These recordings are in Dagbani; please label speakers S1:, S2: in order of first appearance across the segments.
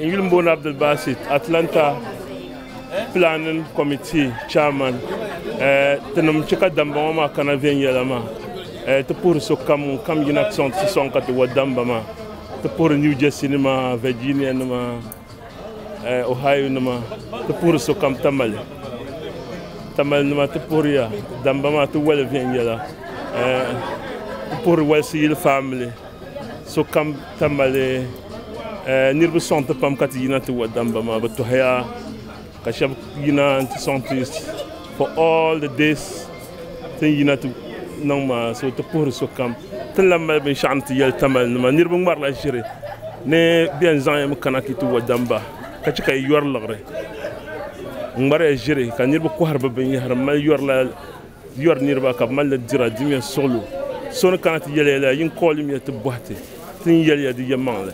S1: N yuli m-booni Abdul Basit, Atlanta Planning Committee Chairman. Tinim chɛ ka damba ŋɔ maa kana viɛnyɛla maa ti puhiri sokam ŋun kam yina ti sɔŋ ti sɔŋ ka ti wa damba maa. Ti puhiri New Jersey nima, Virginia nima, Ohio nima, ti puhiri sokam Tamale. Tamale nima ti puhiriya damba maa ti wali viɛnyɛla. N puhiri Walisi yili family. sokam ta mali eh, niriba sɔŋ ti pam ka ti yina ti wa damba maa bi tɔhiya ka shɛb yina ti sɔŋ ti for all the days tin yina ti niŋ maa so ti puhiri sokam tin lan mali binshɛɣu ni ti yɛli tamali nima niriba ŋmarila ʒiri ni bɛn zaŋ yam kana ti ti wa damba ka chɛ ka yi yɔri liɣiri ŋmariya ʒiri ka niriba kɔhiri bi binyɛhiri mali yɔrila Yɔri niriba ka bɛ mali li dira di ŋmɛ suɣulo. So ni kana ti yɛliya lala yin kɔɣili ŋmɛ ti bɔhi ti, ti ni yɛliya di yɛlimaŋli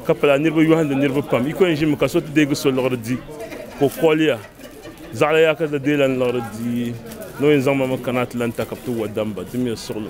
S1: ka pala niriba yɔhindi niriba pam. Yiko n ʒinimi ka so ti deegi so liɣiri di ka o kɔɣiliya. Zaɣila yaha ka ti deei lan liɣiri di ni o yin zaŋ ma mi kana ti lan ta ka bɛ ti wa damba di ŋmɛ suɣulo.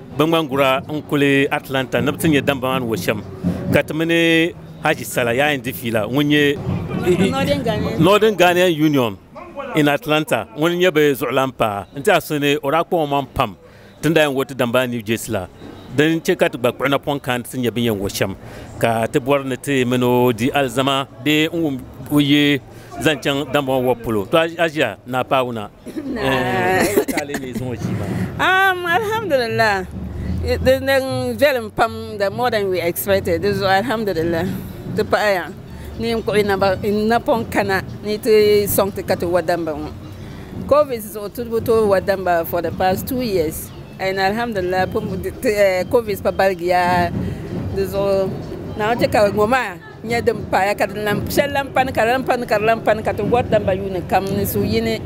S2: Biŋmangura n kuli Atlanta ni bi ti nyɛ damba maa ni wo shɛm ka ti mini Haji Sala yaa yɛn di fiila ŋun nyɛ Northern Ghanaian Union in Atlanta ŋuni n-nyɛ bɛ zuɣulan paɣa n-ti a so ni o daa kpuɣi o maŋ pam ti ni daa yɛn wo ti damba New Jersey la din chɛ ka ti gba kpuɣi napɔŋ kana ti nyɛ bɛ ni yɛn wo shɛm ka ti bɔri ni ti mini o di alizama bee n-wum o yi zaŋ chaŋ damba ŋɔ wobu polo. To Aʒia Naa Paawuna.
S3: Alhamdulillah di niŋ viɛlim pam the more than we expected di zuɣu alhamdulillah ti paɣi ya ni yin kpuɣi n napɔŋ kana ni ti sɔŋ ti ka ti wa damba ŋɔ covid zuɣu ti bi tooi wa damba for the past two years and alhamdulillah covid pa baligiya di zuɣu Naawuni chɛ ka ŋɔ maa. Nya din paaya ka din lan shɛli lan pani, ka di lan pani, ka di lan pani, ka ti wɔri damba yuuni kam ni suhuyini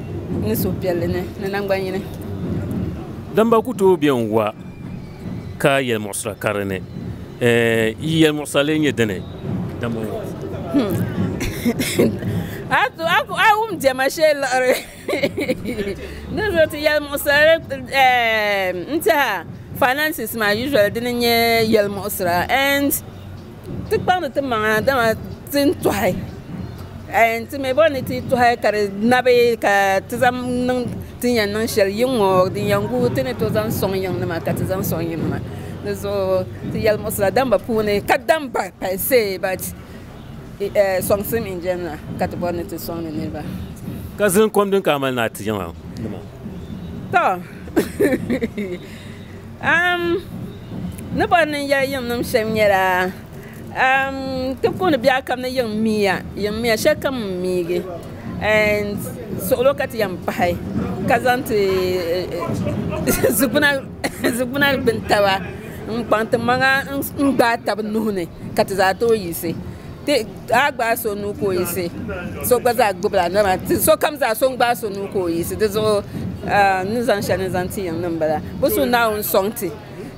S3: ni suhupiɛlli ni ni naŋgbannyini.
S2: Damba ku tooi be n-wa ka yɛlimuɣisira ka di ni. Yi yɛlimuɣisira lee nyɛ dini, damba ŋɔ? A wum diɛma shee liɣiri di zuɣu ti yɛlimuɣisira n-tiɛha, finances maa usually dini n-nyɛ yɛlimuɣisira and. Ti kpaŋdi ti maŋa dama ti ni tɔhi ti mi bɔri ni ti tɔhi ka di nabi ka ti zaŋ niŋ ti ni yɛn niŋ shɛli yiŋ ŋɔ din yɛn guui ti ni tooi zaŋ sɔŋ yiŋ nima ka ti zaŋ sɔŋ yiŋ nima di zuɣu ti yɛlimuɣisira damba puuni kadam ba galisi bat sɔŋsim n jɛni na ka ti bɔri ni ti sɔŋdi niriba. Ka zilin kom din ka amali ni a ti yiŋ nima. Tɔ.
S3: Am, ni bɔri ni n yɛli yiŋ nim shɛm nyɛla, am, ti puuni biɛɣu kam ni yiŋ miya, yiŋ miya shɛli kam n miigi and suɣilo ka ti yɛn pahi ka zaŋ ti zugbuna zugbuna gbuni taba n kpaŋ ti maŋa n gbaai tabi nuhi ni ka ti zaa tooi yiɣisi. a gbaai so nuu ka o yiɣisi so gba zaa gbubila dama sokam zaa so n gbaai so nuu ka o yiɣisi di zuɣu n ni zaŋ shɛli ni zaŋ ti yiŋ ni n bala bi su naawuni sɔŋ ti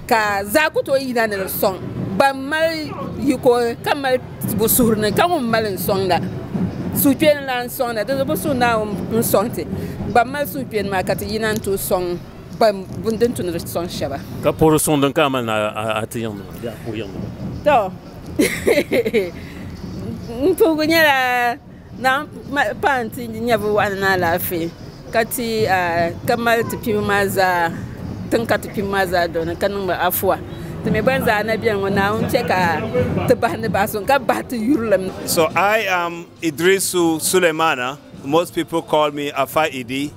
S3: ka zaa ku tooi yina ni di sɔŋ ban mali yiko ka mali bi suhuri ni ka ŋun mali n sɔŋda suhupiɛlli n lahi sɔŋda di zuɣu bi su naawuni n sɔŋ ti ban mali suhupiɛlli maa ka ti yina n tooi sɔŋ ban din tu ni di sɔŋ shɛba ka puhiri suŋ din ka a
S2: mali ni a ti yiŋ nima bee a puhi yiŋ nima.
S3: N puhigu nyɛla naa paanu ti nyɛ bi waɣa ni ni alaafee ka ti ka mali ti kpibhi maa zaa tiŋ ka ti kpibhi maa zaa dɔna ka niŋ ba afuwa ti mii gba ni zaa na biɛni ŋɔ naawuni chɛ ka ti bahi ni bahi suŋ ka bahi
S4: ti yurilim. So I am Idrisu Sulemana most people call me Afa Idi.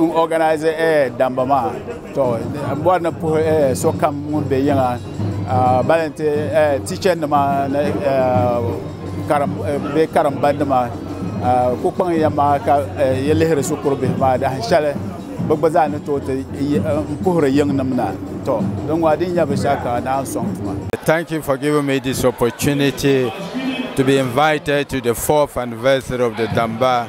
S5: N organize eh, damba maa to n bɔri ni puhi eh, sokam ŋun be yiŋa ah, bali nti eh, teacher nima ni eh, karim eh, bee karimba nima ah, ku kpaŋ ya maa ka eh, yi lihiri shikuru bihi maa dahin shɛli bɛ gba zaa ni tooi ti yi- eh, n puhiri yiŋnim na to din
S6: ŋɔ din nya binshɛɣu ka naa n sɔŋ tuma. Thank you for giving me this opportunity to be invited to the fourth anniversary of the Damba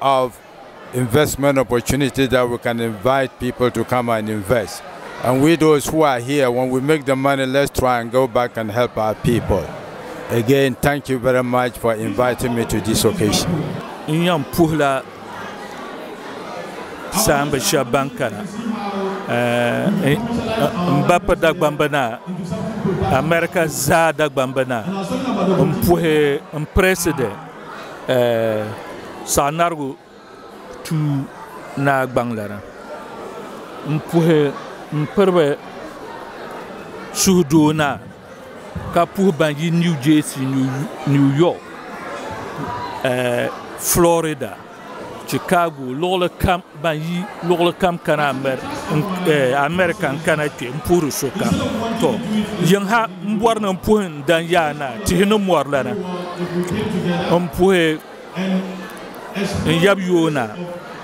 S6: of investment opportunity that we can invite people to come and invest and we those who are here when we make the money let's try and go back and help our people again thank you very much for inviting me to this occasion n yan puhila
S1: saamba shɛba ban kana eh, n ba pa dagbamba na America zaa dagbamba na n puhi n president Saɣi narigu tuu naa gbaŋ lana n puhi m piriba suhu doo naa ka puhi ban yi New Jersey New York Florida. Chicago luɣuli kam ban yi luɣuli kam kana America n kana kpɛ n puhiri sokam to yiŋ ha n bɔri ni n puhi n dan yaa naa tihi ni mɔri lana n puhi n yab yoona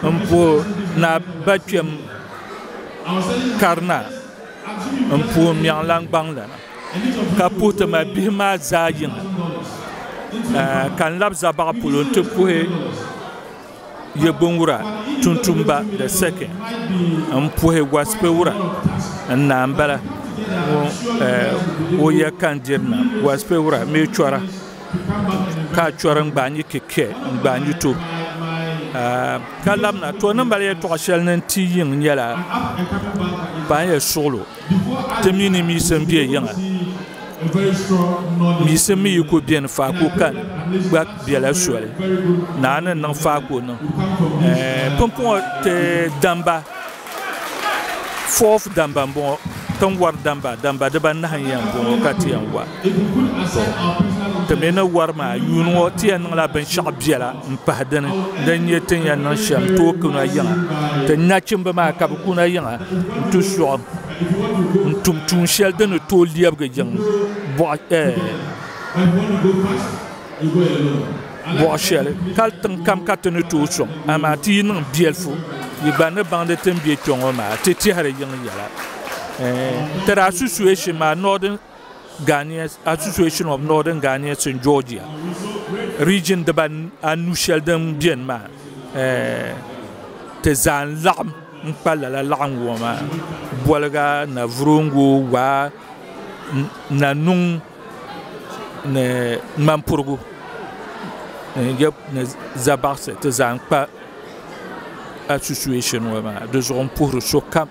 S1: n puhi naa ba kpɛm kari naa n puhi miɛŋ langbaŋ lana ka puhi ti mali bihi maa zaa yiŋa ka n labi za baɣa polo n ti puhi ye binwura tuntumba the second n puhi waspewura n naa n bala ŋɔ o ya ka n diri na waspewura mi chɔra ka a chɔri n gbaai n yi ki kɛ n gbaai n yi to ka labina to ni mali yɛltɔɣa shɛli ni n ti yiŋ nyɛla ban yɛn suɣilo. Ti mi ni miisim be yiŋa,
S7: miisim mi yi ku beni faako kan gba bela soli, naa ni niŋ faako niŋ eh, pumpɔŋɔ ti damba, fourth damba m-bɔŋɔ, ti ni wari damba, damba dibanahi n-yɛn bɔŋɔ ka ti yɛn wa. Ti mi ni wari maa yuun ŋɔ ti yɛn niŋla binshɛɣu biɛla m-pahi dini din nyɛ ti ni yɛn niŋ shɛm n-tooi kuna yiŋa. Ti nachimba maa ka bɛ kuna yiŋa nti suɣim n-tum tuun shɛli di ni tooi lɛbigi yiŋ buɣ shɛli kali tiŋ kam ka ti ni tooi sɔŋ. Amaa ti yi niŋ biɛlifu yi gba ni baŋdi ti ni be kpe ŋɔ maa ti tɛhiri yiŋ yɛla. Ti daa su suhɛ shim maa Northern. Ghanaians Association of Northern Ghanaians in Georgia region diba anu shɛli din beni maa ti zaa n-laɣim n-kpa lala laɣinguŋɔ maa Bolga, Navrongo, Waa, Nanung ni Ŋmanpurigu ni Zabaɣisi ti zaa n-kpa association ŋɔ maa di zuɣu m-puhiri sokam.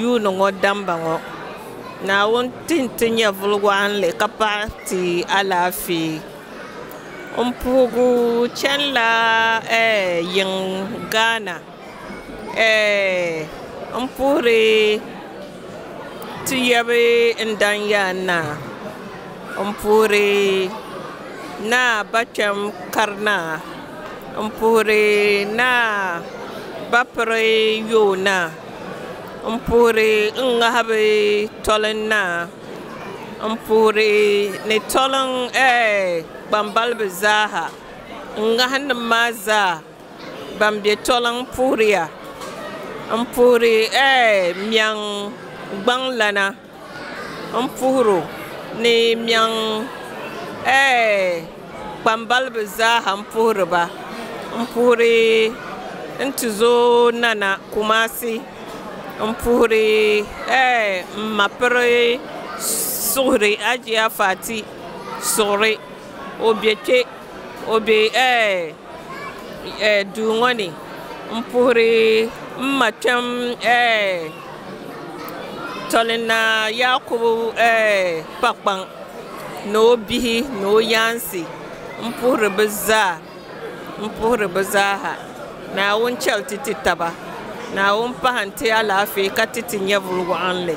S3: Yuuni ŋɔ damba ŋɔ, Naawuni ti n ti nyɛvuli waɣinli ka paɣi ti alaafee. N puhigu chanila ɛɛh yiŋ Ghana ɛɛh n puhiri ti yabi n dan yaa naa n puhiri naa ba kpɛm kari naa n puhiri naa ba piri yoo naa. N puhiri n ŋahibu toli n naa, n puhiri ni toli n ɛɛh kpambalibi zaaha, n ŋahi nim maa zaa ban bɛ toli n puhiriya, n puhiri ɛɛh miɛŋ gbaŋ lana. N puhir o ni mɛŋ ɛɛ kpambaliba zaaha n puhiri ba. N puhiri n tizooi Nana Kumasi, n puhiri ɛɛ m ma piri suhuri Hajiya Fati suɣuri o be kpe. O be duu ŋɔ ni m-puhiri m ma kpɛm Tɔlina Yaakubu Kpakpaŋ ni o bihi ni o yaansi m-puhiri bɛ zaaha Naawuni chɛli ti ti taba Naawuni pahi nti alaafee ka ti ti nyɛvili wɔɣinli.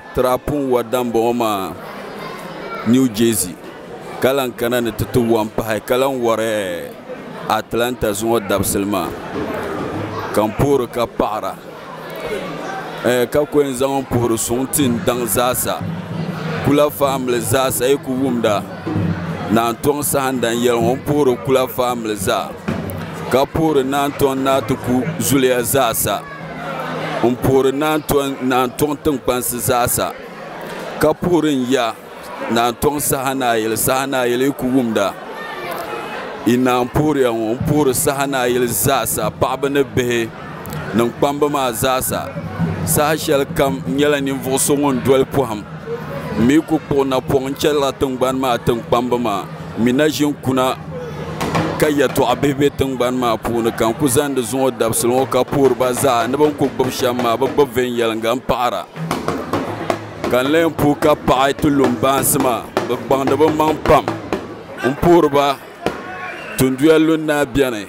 S8: Tira Punwa Dambɔŋɔ maa New Jersey ka lan kana ni ti ti wam pahi ka lan wari Atlanta zuŋɔ dabisili maa ka n puhiri ka paɣira ɛɛh ka ku yɛn zaŋ n puhiri suŋ ti n daŋ zaasa Kula family zaasa yi ku wumda Naan Tɔŋ Sahandan yɛli ŋɔ n puhiri Kula family zaa ka puhiri Naan Tɔŋ Naatiku zuliya zaasa. n puhiri naantɔŋ tinkpansi zaasa ka puhiri n ya naantɔŋ saha ni a yili saha ni a yili yi ku wumda yi ni a ni puhiriya ŋɔ n puhiri saha ni a yili zaasa paɣaba ni bihi ni n
S9: kpamba maa zaasa saha shɛli kam n nyɛla ninvuɣ so ŋun doli pɔhim m mi ku kpuɣi napɔŋ n chɛliri tiŋgbani maa tiŋkpamba maa m mi na ʒini kuna ka yɛtɔɣ bihi be tiŋgbani maa puuni ka n ku zaŋ di zuŋɔ dabisili ŋɔ ka puhiri ba zaa ni bɛ ni ku gbibi shɛm maa bɛ gbibi viɛnyɛliŋga m-paɣira ka n lan puhi ka paɣi ti lumbaansi maa bɛ kpaŋdi bɛ maŋ pam m-puhiri ba tunduya lundaa beni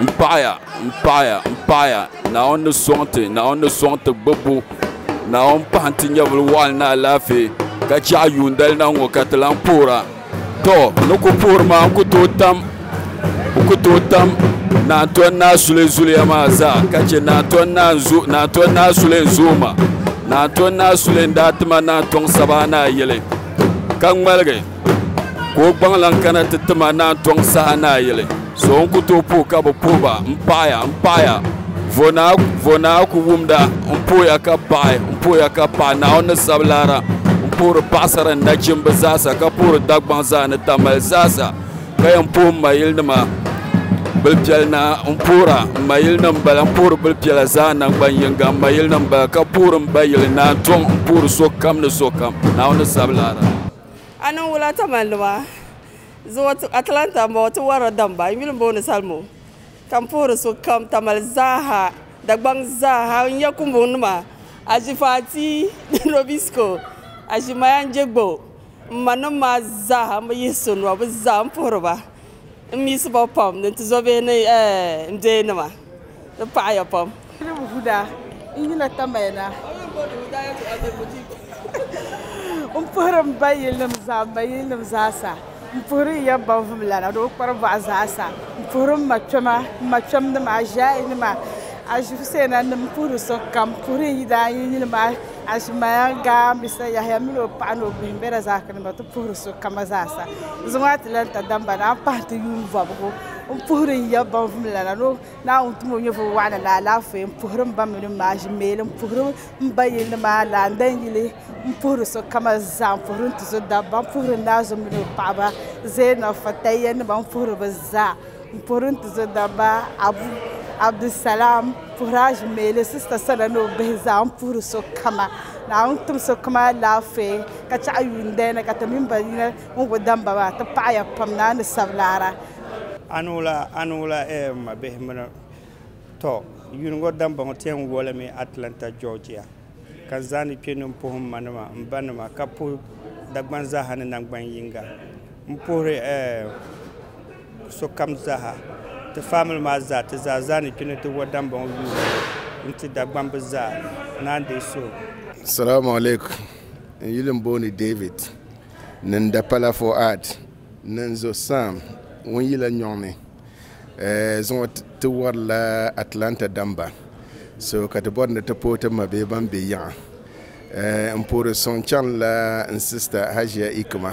S9: M paɣiya, m paɣiya, m paɣiya, Naawuni ni sɔŋ ti, Naawuni ni sɔŋ ti gbibbu. Naawuni pahi nti nyɛvili waɣil ni alaafee, ka chɛɣu yuundali na ŋɔ ka ti lan poora. Tɔ! N ni ku poori maa, n ku tooi tam, n ku tooi tam Naa Tɔni Naa Sule zuliya maa zaa ka chɛ Naa Tɔni Naa n-zo, Naa Tɔni Naa Sule n-zo ma. Naa Tɔni Naa Sule n-daa ti ma Naa Tɔŋ Sabaa Naa yili, ka ŋmaligi. ka o gbaŋ laŋ kana ti tima ni a tɔŋ saha ni a yili so n ku tooi puhi ka bi puhiba n paɣaya n paɣaya vo naa ku wumda n puhiya ka paɣi n puhiya ka paɣi naawuni ni sabi lara n puhiri paɣasara ni nachimba zaasa ka puhiri Dagbaŋ zaa ni tamali zaasa ka yɛn puhi n ma yili nima bilpiɛli naa n puhira n ma yili nim n bala n puhiri bilpiɛla zaa nangban yinga n ma yili nim n bala ka puhiri n ba yili ni a tɔŋ n puhiri sokam ni sokam naawuni ni sabi lara A niŋ wula
S3: Taman nima zuɣu Atlanta m bɔŋɔ ti warila damba n yuli booni salmo ka m puhiri sokam tamale zaaha Dagbaŋ zaaha n nya kumbuŋ nima Aʒifaati Robisco Aʒimaya Njegbo m ma nim maa zaaha m bi yihi so nua bɛ zaa m puhiri ba. N miisi ba pam ni ti zɔbihi ni n bee nima. Di paɣiya pam. N huda,
S10: n yina tamaya na. N puhiri m ba yilinim zaa, m ma yilinim zaasa. N puhiri n ya baŋvumlana ni o kpari bɔɣu zaasa. N puhiri m ma kpɛma, m ma kpɛmnima, aʒiɛinima, aʒifuseinanim, m puhiri so kam. M puhiri n yidaan yi yili maa. Azumaaya gaambisa Yahaya mini o paɣa ni o bihi m-be na zaakinima ti puhiri so kama zaasa. Zuŋɔ a ti lan ta damba ni a pahi ti yuun bɔbigu m-puhiri n ya baŋvum lana ni Naawuni tum o nyɛvili wɔɣila ni alaafee m-puhiri m ba mini m ma aʒimeeli m-puhiri m ba yilli maa lana n dan yili m-puhiri so kama zaa m-puhiri n-tuzo dabba m-puhiri n naazum mini o paɣaba Zeenɔf Fatayyanima m-puhiri bɛ zaa. N puhiri n tizɔdabba Abu Abdulsalam puhiri Ajmeli sista sana ni o bihi zaa n puhiri sokama. Naawuni tim sokama alaafee ka chɛɣu yuundali ni ka ti mini ba yina ŋun ku damba maa ti paɣiya pam ni a ni sabi laara. Anula
S11: anula eh m ma bihi mini tɔ yuuni ŋɔ damba ŋɔ ti yɛn wolimi Atlanta Georgia ka n zaani kpe ni m puhi m ma nima m ba nima ka puhi Dagban zaaha ni nangban yiŋga m puhiri eh sokam zaaha, ti famili maa zaa, ti zaa zaa ni kpi ni ti wo Dambɔŋ yuuni n-ti Dagbam bɛ zaa naan deei so. Salamu
S8: alaikum. N yuli m-booni David, ni n dapala Fuad, ni n zo Sam ŋun yi la nyɔŋ ni. Ɛɛh, zuŋɔ ti wari la Atlanta damba, so ka ti bɔri ni ti pooi ti ma bee ban be yiŋa. Ɛɛh, m puhiri suŋ chaŋ la n sista Hajia Ikuma.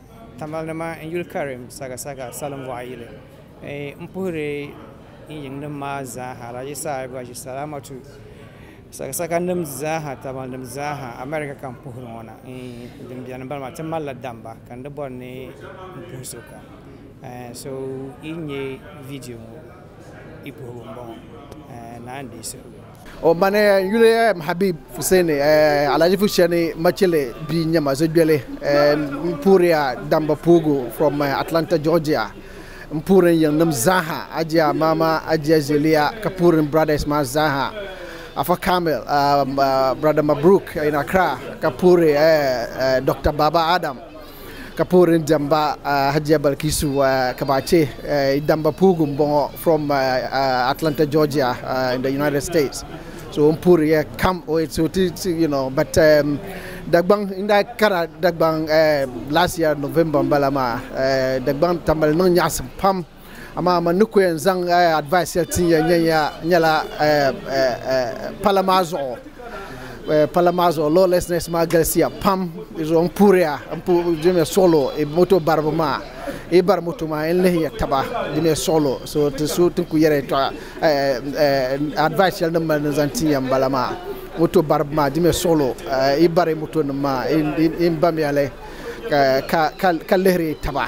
S12: Tamale nima n yuli karim sagasaga salin boɣa yili n puhiri n yiŋ nim maa zaaha di saha gba ʒi salamatu sagasaga nim zaaha tamale nim zaaha amɛrika ka n puhiri ŋo na din biɛni n bala maa ti malila damba ka n di bori ni n puhi so kam so yi nyɛ viidiyo ŋo i puhibu n boŋo ni a ni deei suhurigu O ma ni
S13: n yuli Habib Fuseni Alhaji Fusheni Machele bia n-nyɛ ma Zogbeli m puhiriya damba puhigu from Atlanta Georgia m puhiri n yiŋnim zaaha Ajiya Mama Ajiya Zeliya ka puhiri n brothers maa zaaha Afa Kamil brother Mabruk in Accra ka puhiri Doctor Baba Adam ka puhiri ni diɛmba Hajiya Balkisu Kabaace damba puhigu m-bɔŋɔ from Atlanta Georgia in the United States so o ni puhiri ya kam o so ti you know but Dagbaŋ n daa kara Dagbaŋ last year November m-bala maa Dagbaŋ tambali niŋ nyaɣisim pam Amaa man ni ku yɛn zaŋ advice shɛli tin yɛn nyɛ ya nyɛla pala maa zuɣu pala maa zuɣu lawlessness maa galisiya pam di zuɣu n puhiriya n puhi dimi suɣilo moto baribi maa yi bari moto maa yɛn lihiya taba dimi suɣilo so ti so ti ku yɛri tɔɣa advice shɛli din mali ni zaŋ tin ya n bala maa moto baribi maa dimi suɣilo yi bari moto nim maa yi bamiya li ka lihiri taba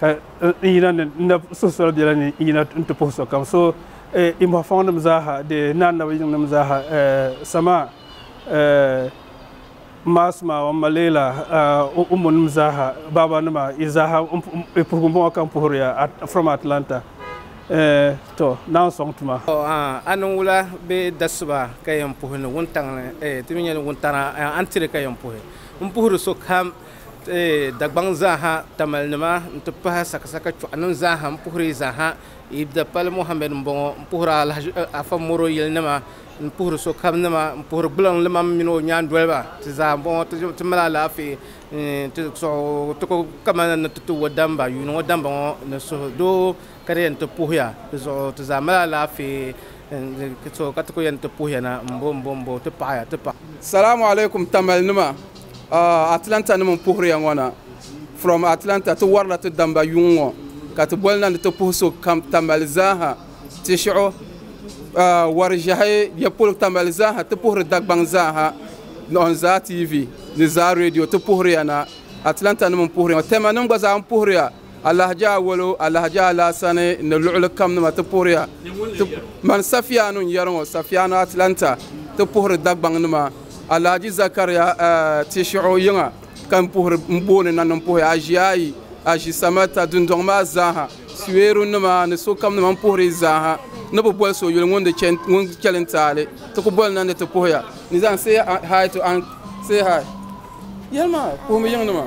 S14: ka n yina ni n na suhu soli biɛla ni n yina n ti puhi sokam so i mɔɣifɔŋnim zaaha di ni annabi yiŋnim zaaha samaa maasuma wa maleela ummunim zaaha baabanima i zaaha i puhigu m-bɔŋɔ ka m puhiri ya from Atlanta to naan sɔŋ tuma. A niŋ wula
S15: bee dasuba ka yɛn puhi ni wuntaŋ ni ti mi nya ni wuntana a ni tiri ka yɛn puhi m puhiri sokam Dagbaŋ zaaha tamalinima n ti pahi sakasaka chuɣanim zaaha m puhiri yi zaaha Eid Dapali Mohammed m bɔŋɔ m puhiri Alahaji Afa Moro yili nima m puhiri sokam nima m puhiri gbuliŋ limam mini o nyaandoliba ti zaa m bɔŋɔ ti mali alaafee ti suhu ti ku kamani ni ti ti wo damba yuuni ŋɔ damba ŋɔ ni suhudoo Ka di yɛn ti puhiya di zuɣu ti zaa mali alaafee n so ka ti ku yɛn ti puhiya na m bo m bo m bo ti paɣiya ti paɣi. Salamu alaikum
S16: Tamale nima uh Atlanta nim n puhiriya ŋɔ na from Atlanta ti warila ti damba yuŋ ŋɔ ka ti boli na ni ti puhi so kam Tamale zaaha ti shiɣu uh wari ʒehi bɛ polo Tamale zaaha ti puhiri Dagbaŋ zaaha ni on Zaa TV ni Zaa radio ti puhiriya na Atlanta nim n puhiriya ŋɔ Tema nim gba zaa n puhiriya Alahaji Awolo, Alahaji Alaasani ni luɣili kam nima ti puhiriya. Ti mani Safiyaanu n-yɛri ŋɔ, Safiyaanu Atlanta ti puhiri Dagbaŋ nima. Alahaji Zakariya Tishiɣu yiŋa ka n puhiri m booni na ni m puhi aʒia ayi, aʒi Samata dundɔŋ maa zaaha, Suweeru nima ni sokam nima m puhiri yi zaaha. Ni bi boli so yuli ŋun di chɛ ŋun chɛli n taali ti ku boli na ni ti puhiya. Nizam say hi to Aunt say hi. Yɛli maa puhimi yiŋ nima.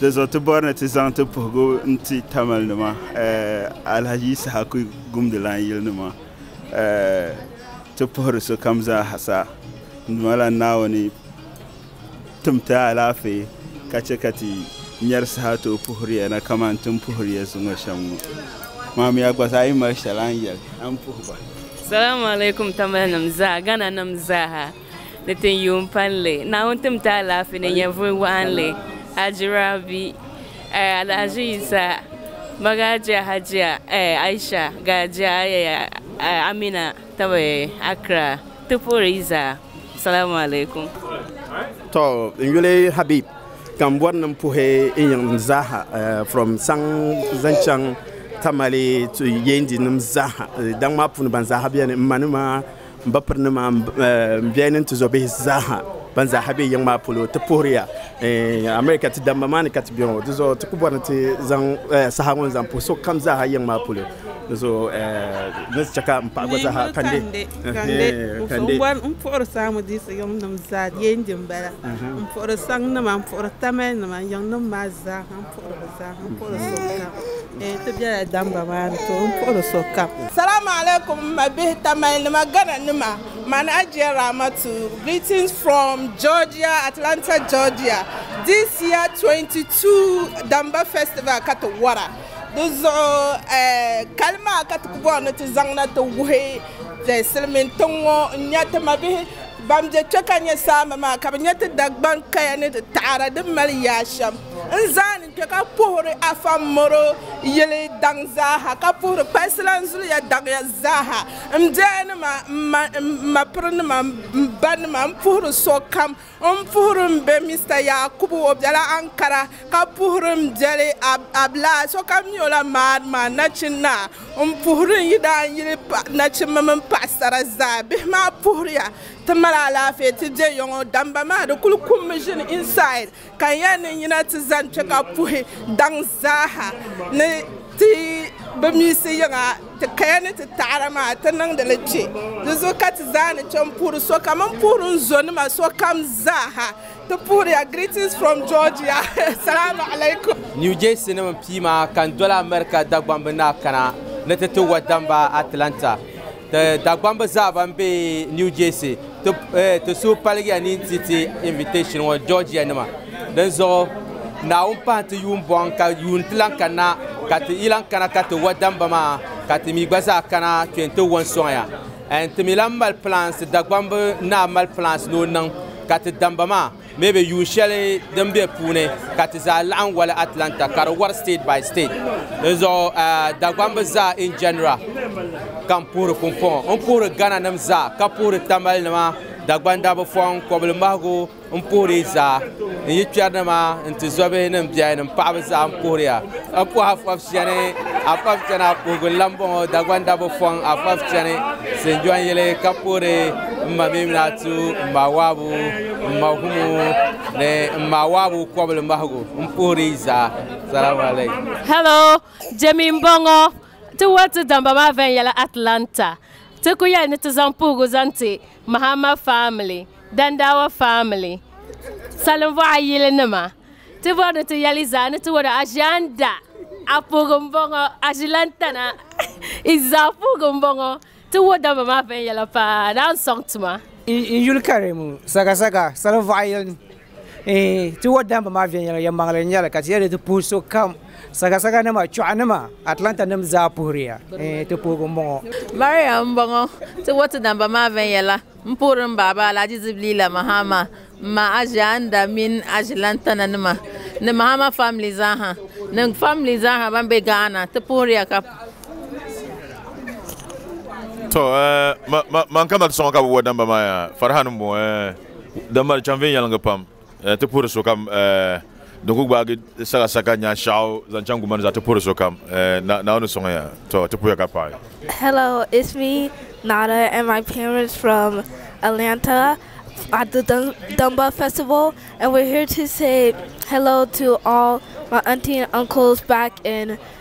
S17: Di zuɣu ti bɔri ni ti zaŋ ti puhigu n ti Tamil nima eh, Alhaji Isahaku Gumdilan yili nima eh, ti puhiri sokam zaa ha sa n mala Naawuni tim ti alaafee ka chɛ ka ti nyari saha tooi puhiriya na kamani tin puhiriya zuŋɔ shɛm ŋɔ. Maamiya gba zaa yi mali shɛli a ni yɛli a ni puhi ba. Salamu alaikum
S18: Tamil nim zaa, Ghana nim zaa ha. ni tin yuun palli. Naawuni tim ti alaafee ni nyɛvuli waɣinli Haji Rabi eh, Alhaji Yisa, Magajiya Hajiya eh, Aisha, Gajiya Ayaya eh, Amina tab eh, Accra. Ti puhiri yi zaa Salamu alaikum. To
S19: n yuli Habib ka n bɔri ni n puhi n yiŋnim zaaha eh, from saŋ zaŋ chaŋ Tamale to Yendi nim zaaha eh, daŋ maa puuni ban zaaha beni, m manima M ba piri ni maa m biɛhi ni n ti zo bihi zaaha ban zaaha be yiŋ maa polo ti puhiriya America ti damba maa ni ka ti be ŋɔ. Di zuɣu ti ku bɔri ni ti zaŋ saha ŋɔ n-zaŋ puhi so kam zaaha yiŋ maa polo. Di zuɣu ni ti chɛ ka m paɣa gba zaaha kande. Kande, kande. M puhiri
S20: Saamu diisi yiŋnim zaa di yɛn di m bala. M puhiri Saŋ nima, m puhiri Tamale nima yiŋnim maa zaaha. Salaam alaikum m
S21: ma bihi tamali nima gana nima mani Ajiya Raamatu greetings from Georgia Atlanta Georgia this year 22 Damba festival ka ti wara di zuɣu kali maa ka ti ku bɔri ni ti zaŋ na ti wuhi silimiin tiŋ ŋɔ n nya ti ma bihi ban be kpe ka nya saamba maa ka bɛ nya ti Dagbaŋ kaya ni di taɣada din mali yaashɛm. n zaa ni kpe ka puhiri Afa Moro yili daŋ zaaha ka puhiri Kpalsilan zuliya daŋya zaaha m biɛhinnima m ma m mapirinima m banima m puhiri sokam m puhiri m be Mista Yakubu o bela Ankara ka puhiri m biɛli Ablaa sokam mi o la maari maa nachin naa m puhiri n yidaanyili nachimba mini paɣasara zaa bihi maa puhiriya ti mali alaafee ti be yɔŋɔ damba maa di kuli kummi ʒini inside Ka n yɛn ni yina ti zani kpe ka puhi daŋ zaaha ni ti bi miisi yiŋa ti kaya ni ti taɣada maa, ti niŋdi li kpe. Di zuɣu ka ti zaa ni chɛ m-puhiri sokam. M puhiri n zonima sokam zaaha. Ti puhiriya Greetings from Georgia, Salaamu alaikum. New Jersey nim n
S2: pii maa ka n doli America Dagbamb ni a kana ni ti ti wa damba Atlanta. Ti Dagbamba zaa ban be New Jersey ti ti suhu paligiya ni n-ti ti invitation ŋɔ Georgia nima. Dinzuɣu Naawuni pahi ti yuun bɔŋ ka yuun ti lan kanna ka ti yi lan kana ka ti wa damba maa ka ti mi gba zaa kana kpe nti wo n-sɔŋ ya. And ti mi lan mali plans, Dagbamb naa mali plans ni o niŋ ka ti damba maa. bee bɛ yuun shɛli din be puuni ka ti zaa laɣim wali Atlanta ka di wari state by state. Di zuɣu Dagbaŋ bi zaa in general ka n puhiri pumpɔŋɔ. N puhiri Ghana nim zaa ka puhiri Tamale nima, Dagbaŋ Dabufɔŋ, Kɔbili Mahigu, n puhiri yi zaa. N yi kpɛri nima, n ti zɔbihi ni n biɛhi ni n paɣaba zaa n puhiri ya. A puhi a fɔb chani, a fɔb chani a puhigu n lan bɔŋɔ Dagbaŋ Dabufɔŋ a fɔb chani Sinjɔn yili ka puhiri m ma mii mini a tu m ma Waabu. m ma humo ni m ma waabu kɔbili mahigu m puhiri yi zaa salamu alaikum Hello,
S4: Jemi n bɔŋɔ ti wari ti damba maa viɛnyɛla Atlanta ti ku yɛli ni ti zaŋ puhigu zaŋ ti Mahama family, Dandawa family, Salinvuɣa yili nima ti bɔri ni ti yɛli zaa ni ti wari Aʒianda a puhigu m bɔŋɔ Aʒilantana izaa puhigu m bɔŋɔ. Ti wuhi dabba maa viɛnyɛla paa ni a ni sɔŋ tuma. N yuli kari
S12: ŋɔ sakasaka salin vɔɣu yili ni. Eeh, ti wuhi dabba maa viɛnyɛla yɛmmaŋli n nyɛli ka ti yɛli ti puhi sokam. Sakasaka nima, chɔɣu nima, Atlanta nim zaa puhiri ya. Eeh, ti puhigu m bɔŋɔ. Mariam m bɔŋɔ.
S22: Ti wuhi ti dabba maa viɛnyɛla. M puhiri m baaba Alhaji Zibilila Mahama, m ma Aʒianda mini Aʒi Lantana nima ni Mahama famili zaaha ni famili zaaha ban be Ghana. Ti puhiriya ka.
S23: To eh, ma, ma, man ka mali soŋ ka bi wa damba maa ya, Farihan m-bɔŋɔ eh, damba di chaŋ viɛnyɛliŋgi pam. Eh, ti puhiri sokam eh, din ku gbaagi sagasaka nya shɛɣu zaŋ chaŋ guma ni zaa ti puhiri sokam eh, na naawuni sɔŋ ya to ti puhiya ka paɣi Hello, it's
S24: me, Nada, and my parents from Atlanta at the Dun- Dunbar Festival, and we're here to say hello to all my auntie and uncles back in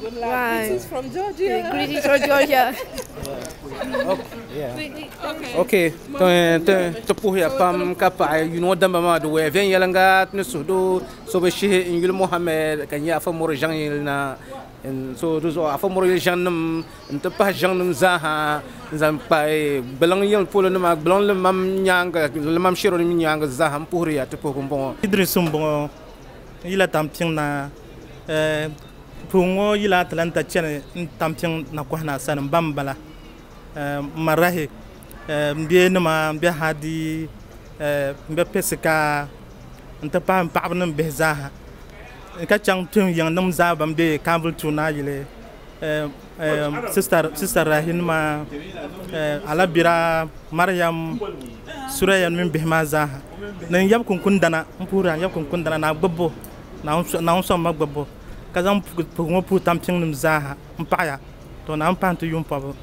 S24: Good
S21: luck. Right. Greetings
S24: from Georgia.
S12: Greetings from Georgia. okay ti puhiya pam ka paɣa yino damba maa di wɛya viɛnyɛlinga ni suhudo so bi shihi n yuli mohammed ka nyɛ afa mori ʒɛŋ yili na so di zuɣu afa mori yili ʒɛŋ nim n ti pahi ʒɛŋ nim zaaha n zaŋ kpa gbaliŋ yili polo nima gbaliŋ limam nyaanga limam shɛro nim nyaanga zaaha n puhiriya ti puhigu n bɔŋɔ idris n bɔŋɔ
S25: yila tam tiŋ na Puhiŋ ŋɔ yila Atlanta chani n-tampiŋ nakɔha naa sani m-ba m-bala Marahi m-be nima m-be Hadi m-be Pesika n-ti pahi m paɣaba ni m bihi zaa ha ka chaŋ tuhi yiŋ nim zaa ban be Kaanvuli tuun naa yili sista Rahi nima Alabira Mariam Suraya mini bihi maa zaa ha ni n yab kunkundana m puhiri a n yab kunkundana ni a gbibbu Naawuni sɔŋ ma gbibbu, ka zaŋ puhigu ŋɔ puhi tampiŋnim zaaha m-paɣi ya. Tɔ! Naawuni pahi nti yuun pɔbu.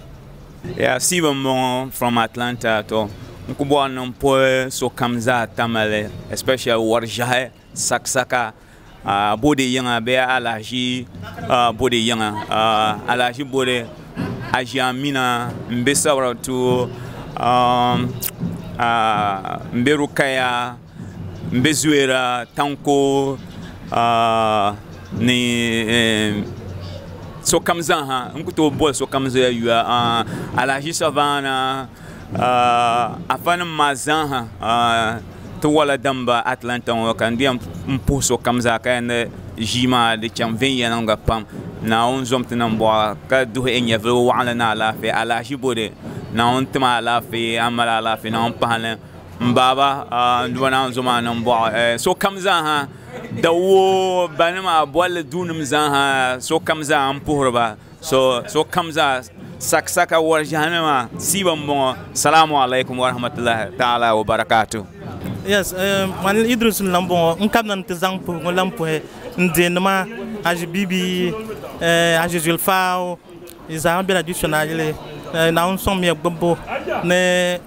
S25: Yaa
S26: Stephen m-bɔŋɔ from Atlanta. Tɔ! N ku bɔri ni m puhi sokam zaa tamale especially wari ʒɛhi, sakisaka, bode yiŋa bee alahiʒi bode yiŋa, alahiʒi bode Aʒia Amina m-be Sabaratu, m-be Rukaya. M be Zuera tanko ni sokam zaaha n ku tooi boli sokam zoya yuya Alahaji Savana afa nim maa zaaha ti wala damba Atlanta ŋɔ ka n di yɛn puhi sokam zaa ka yɛn ʒii maa di chaŋ viɛnyɛliŋga pam Naawuni zom ti niŋ bɔɣa ka duhi N nyɛvili waɣinli ni alaafee Alahaji Bode Naawuni tima alaafee a ni mali alaafee Naawuni pahili M baaba n duba naanzu maa niŋ bɔɣu sokam zaaha dawuo banima bolli duunim zaaha sokam zaa n puhiri ba sokam zaa sakisaka wari ʒehi nima siiba m boŋɔ salaam alakum warahmatullahi taala
S25: wabarakatuh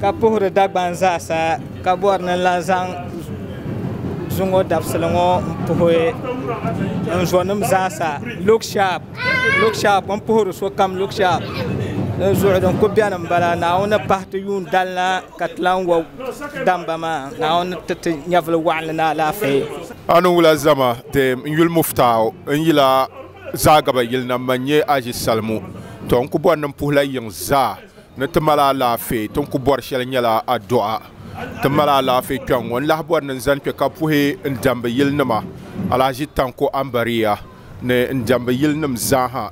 S12: ka puhiri Dagban zaasa ka bɔri ni n lan zaŋ zu ŋɔ dabisili ŋɔ m-puhi n zɔnim zaasa. Look sharp! Look sharp! M puhiri sokam look sharp! Dinzuɣu din kul beni m-bala, Naawuni ni pahi ti yuun dalina ka ti lan wa damba maa, Naawuni ni ti ti nyɛvili wɔɣinli ni alaafee. A ni wula zama
S1: deem n yuli Muftaau n yila Zaagaba yili na, man nyɛ Aji Salimu. Tɔ! N ku bɔri ni m puhi la yiŋ zaa. Ni ti mali alaafee, ti ni ku bɔri shɛli nyɛla addu'a. Ti mali alaafee kpɛŋ ŋɔ, n lahi bɔri ni n zani kpe ka puhi n diɛmbu yilinima, Alhaji Tanko Ambariya ni n diɛmbu yilinim zaaha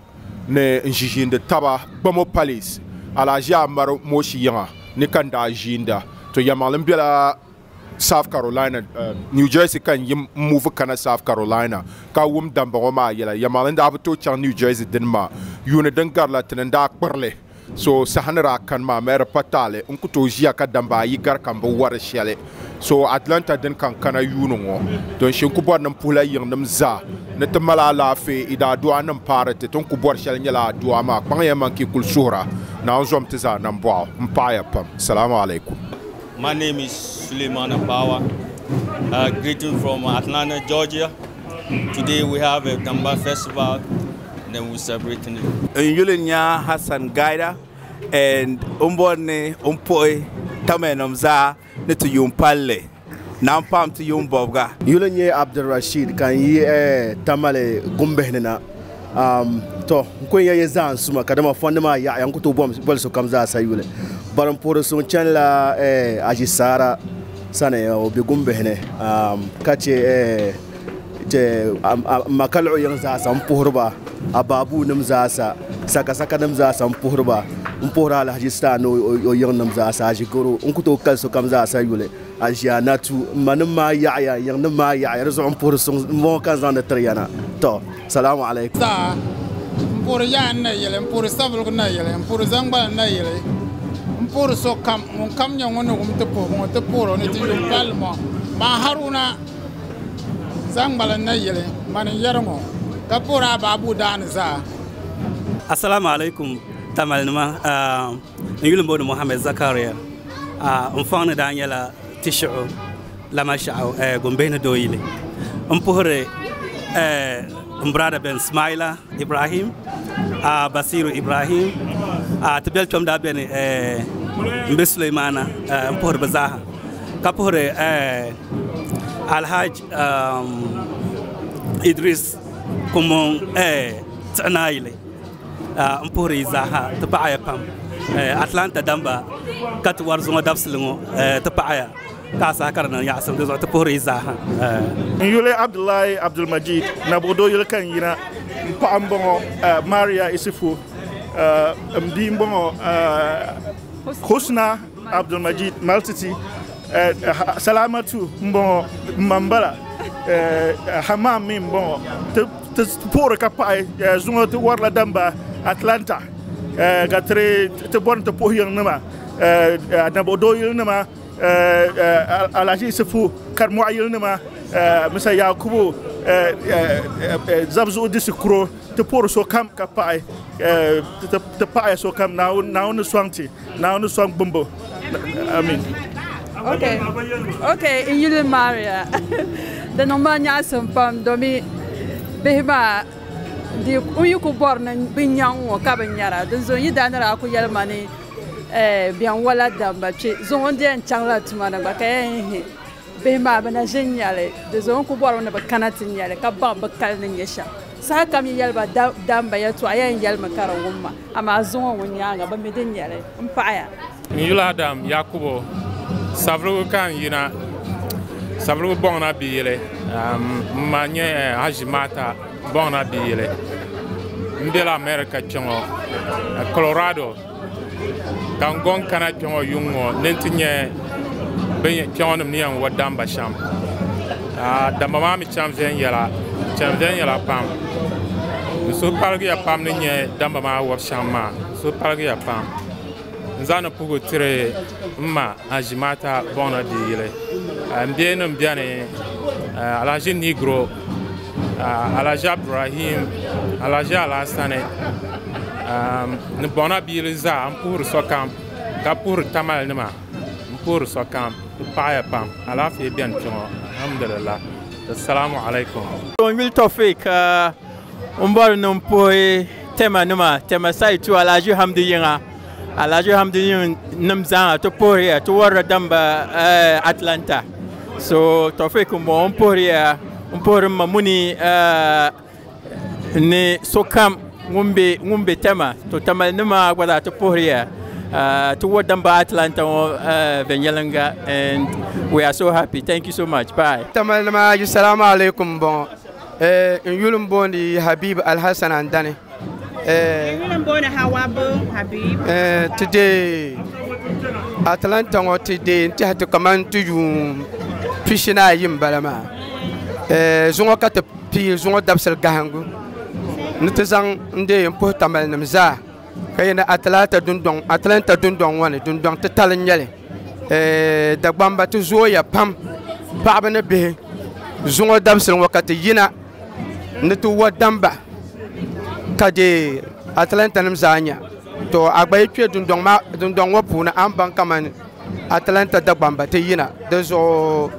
S1: ni n ʒiʒiindi taba Gbamo Palace, Alhaji Amaru Moshi yiŋa ni ka n daa ʒiinda. To yɛlimaŋli n bela South Carolina, New Jersey ka n yi muvi kana South Carolina ka wum damba ŋɔ maa yɛla. Yɛlimaŋli n daa bi tooi chaŋ New Jersey dini maa, yuuni din garila ti ni n daa kpiri li. So saha ni daa kani maa, Mary pa taali n-ku tooi ʒiya ka damba ayi gari ka m-bi wari shɛli. So Atlanta din ka n-kana yuuni ŋɔ, ton shi n-ku bɔri ni m puhila yiŋnim zaa ni ti mali alaafee. I daadɔɣi ni m-paari ti, tin ku bɔri shɛli n-nyɛla aduwa maa. Kpaŋya man ka i kul suhira, Naawuni zom ti zaa nambɔɣu. M paɣiya pam. Salaamu alaikum. My name
S3: is Sulemana Bawa, uh, greeting from Atlanta, Georgia. Today we have a Gamba festival then we celebrating it. N yuli nya
S19: Hassan Gaida and o ni bɔri ni o ni puhi Tamianim zaa ni ti yuun palli naan paam ti yuun bɔbiga. N yuli nyɛ Abdulrashid ka n yi Tamale gumbihi ni na. Tɔ! N kuli nya ya zaa n suma kadama fɔndi maa yaɣiya n ku tooi boli sokam zaa sa yuli. Bari m puhiri so n chanila Aji Saara. sani o be gumbihi ni ka che m ma ka luɣ yiŋ zaasa m-puhiri ba abaabuunim zaasa sakasakanim zaasa m-puhiri ba m-puhiri Alahaji Stan ni o yiŋnim zaasa Aʒigoro n ku tooi kali sokam zaasa yuli Aʒianatu m manim maa yaɣiya n yiŋnim maa yaɣiya di zuɣu m-puhiri suŋ m-bɔŋɔ ka n zaŋdi tiri ya na tɔ Salamu alaikum. Saa, N puhiri
S5: yaha n na yɛli, n puhiri sabuligu n na yɛli, n puhiri zaŋgbala n na yɛli, n puhiri sokam ŋun kam nyɛ ŋun ni wum ti puhigu ŋɔ ti puhir o ni ti yuŋ palli ŋɔ. Man Haruna zaŋgbala n na yɛli, mani n yɛri ŋɔ, ka puhiri a ba Abu Daani zaa. Assalamu
S6: alaikum Tamale nima, n yuli m-booni Mohammed Zakaria, m fɔŋ ni daa nyɛla Tishiɣu. Lamashau Gombe ni doo yili n puhiri n brada bɛni Smaila Ibrahim Basiru Ibrahim ti bɛli kpɛm daa bɛni n bɛ Suleimana n puhiri bi zaaha ka puhiri Alhaji Idris Kumbon tiɣi naa yili n puhiri yi zaaha ti paɣaya pam Atlanta Damba ka ti wari zuŋɔ dabisili ŋɔ ti paɣaya. Ka a saha ka di niŋ yaɣisim di zuɣu ti puhiri yi zaaha. N yuli
S7: Abdullahi Abdulmajid Nabuɣudo yuli ka n yina. N paɣa m-bɔŋɔ Maria Isifo. M bia m-bɔŋɔ Husna Abdulmajid Maltiti. Salamatu m-bɔŋɔ m ma m-bala. Hammam mi m-bɔŋɔ. Ti puhiri ka paɣi zuŋɔ ti warila damba Atlanta ka ti bɔri ni ti puhi yiŋnima Nabuɣudo yilinima. Alhaji Isifu Karimɔɣu yilinima Mr Yakubu Zabzuɣu Disi Kuro ti puhiri sokam ka paɣi ti paɣiya sokam Naawuni ni sɔŋ ti Naawuni ni sɔŋ gbimbu Amiin.
S8: N yuli Maria di niŋ ma nyaɣisim pam domi bihi maa n yi ku bɔri ni bɛ nyaŋ ŋɔ ka bɛ nyara dinzuɣu n yi daa ni daa ku yɛli ma ni Ɛɛ biɛŋwala damba kpe zuŋɔ di yɛn chaŋla tuma ni gba ka yɛn yihi bihi maa bɛ na ʒi n-nya li. Di zuɣu n ku bɔri ba ni bɛ kana ti nya li ka baŋ bɛ kali ni nya shɛm. Sahakam yi yɛli ba damba yɛltɔɣa yɛn yɛlimi ka di wum ma, amaa zuŋɔ ŋun nyaaŋa bɛ mi di nya li m-paɣiya. N yuli Adam
S9: Yakubu, Savulugu ka n yina, Savulugu bɔŋ na biyili. M ma nyɛ Haji Maata. Bɔŋna di yɛli, M bela America kpe ŋɔ Colorado ka n gɔŋ kana kpe ŋɔ yuŋ ŋɔ ni nti nya bɛ kpe ŋɔ nim ni yɛn wa damba shɛm. Damba maa mi chaŋ viɛnyɛla chaŋ viɛnyɛla pam. Di suhu paligiya pam ni nya damba maa wabu shɛm maa, di suhu paligiya pam. N zaŋ ni puhigu tiri m ma Azimaata Bɔŋna di yili. M bihi nim beni Alhaji Nigro, Alhaji Abdurahim, Alhaji Alhasani ni Bɔŋna bi yili zaa. M puhiri sokam ka puhiri Tamale nima m puhiri sokam. Di paɣiya pam. Alaafee beni kpe ŋɔ alhamdulillah. Assalamu alaikum. N yuli Tɔfik.
S10: N bɔri ni n puhi tɛma nima tɛma sayi tu Alhaji Hamdi yiŋa Alhaji Hamdi yiŋ nim zaaha ti puhiriya ti warila damba eh, Atlanta so Tɔfik n bɔŋɔ n puhiriya n puhiri ma muni eh, ni sokam ŋun be ŋun be tɛma to tɛmali nima gba zaa ti puhiriya eh, ti wari damba Atlanta ŋɔ eh, viɛnyɛlinga and we are so happy thank you so much bye. Tɛmali nima ayi salamu
S11: alaikum n bɔŋɔ. Eh, n yuli n booni Habib Alhassan Andani. Eh, n yuli n booni Hawa Bong Habib. Eh, ti dee Atlanta ŋɔ ti dee n tɛhi ti kaman ti yuun pishi ni ayi n bala maa. Eh, zuŋɔ ka ti pii zuŋɔ dabisili gahingu ni ti zaŋ n dee n puhi tamalinim zaa. ka yɛn atlanta dundɔŋ atlanta dundɔŋ ŋɔ ni dundɔŋ titali n nyɛli dagbamba ti zooya pam paɣaba ni bihi zuŋɔ dabisili ŋɔ ka ti yina ni ti wo damba ka deei atlanta nim zaa nya to a gba yi kpɛ dundɔŋ ŋɔ puuni a ni baŋ kamani Atlanta Dagbamba ti yina di zuɣu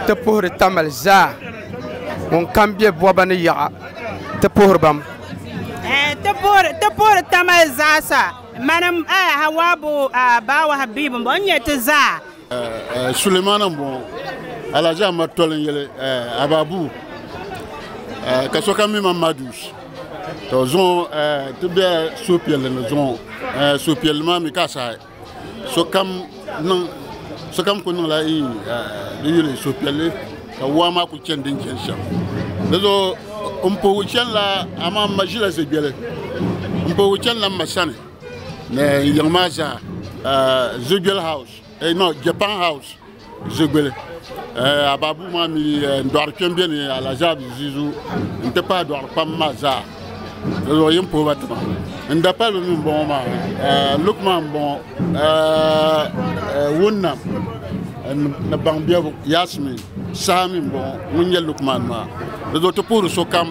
S11: ti puhiri Tamale zaa ŋun kam be bɔba ni yaɣa ti puhiri bam. Ti
S13: puhiri ti puhiri Tamale zaa sa mani Hawaabu baawa Habiibu m-bɔŋɔ n-nyɛ ti zaa. Sulemana
S15: m-bɔŋɔ Alhaji Amadu Toli n-yeli Ababu ka sokam mi ma Madus. To zuŋɔ ti bela suhupiɛlli ni zuŋɔ suhupiɛlli maa mi ka asahi. Sokam ku niŋla di yuli suhupiɛlli ka waa maa ku chani din chani shɛm. Dizuɣu m puhigu chanila amaa m ma ʒila zuɣubiɛli. M puhigu chanila m ma sani ni n yiŋ maa zaa zuɣubiɛli house, no Japan house. Ʒigbili Ababu maa mi n-dɔɣiri kpɛm be ni Alazaab Zizu nti pahi dɔɣiri kpam maa zaa di zuɣu yim puhi ba tima n dapaliba mi m-bɔŋɔ maa Lukman m-bɔŋɔ Wunnam ni Baŋbebu Yaasimiin saha mi m-bɔŋɔ ŋun nyɛ Lukman maa di zuɣu ti puhiri sokam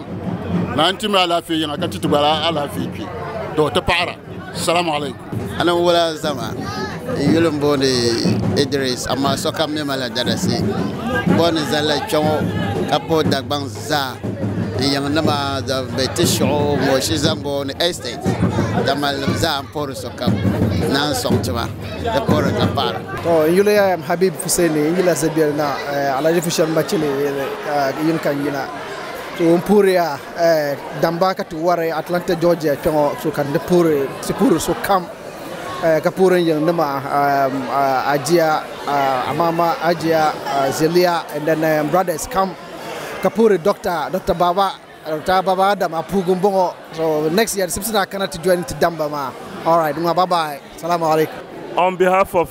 S15: naan ti mi alaafee yiŋa ka ti ti gba alaafee kpe tɔ ti paɣira salamualeykum. Anabila
S27: zama yuli m-booni Idiris, amaa sokam mi malila darisi. Bɔ ni zani la kpiɔŋɔ ka pa o Dagbaŋ zaa n yiŋ nima zaŋ be ti shiɣu ŋɔ Shizango ni Estate damalinim zaa n puhiri sokam naan sɔŋ tima di puhiri ka paɣira. To n yuli I am
S28: Habib Fuseni n yila Zɛbiɛl na Alaji Fushɛm Bachili yiŋ ka n yina. To n puhiri ya. Damba ka ti wari Atlanta Georgia kpe ŋɔ so ka di puhiri shikuru so kam ka puhiri n yili nima Ajia Amama Ajia Zelia and then n brothers kam ka puhiri Doctor Doctor Baba Doctor Baba Adam Apugu n bɔŋɔ so next year di sibisi ni a kana ti join ti Damba maa alright ŋɔ bye bye Salaam alaikum. On behalf of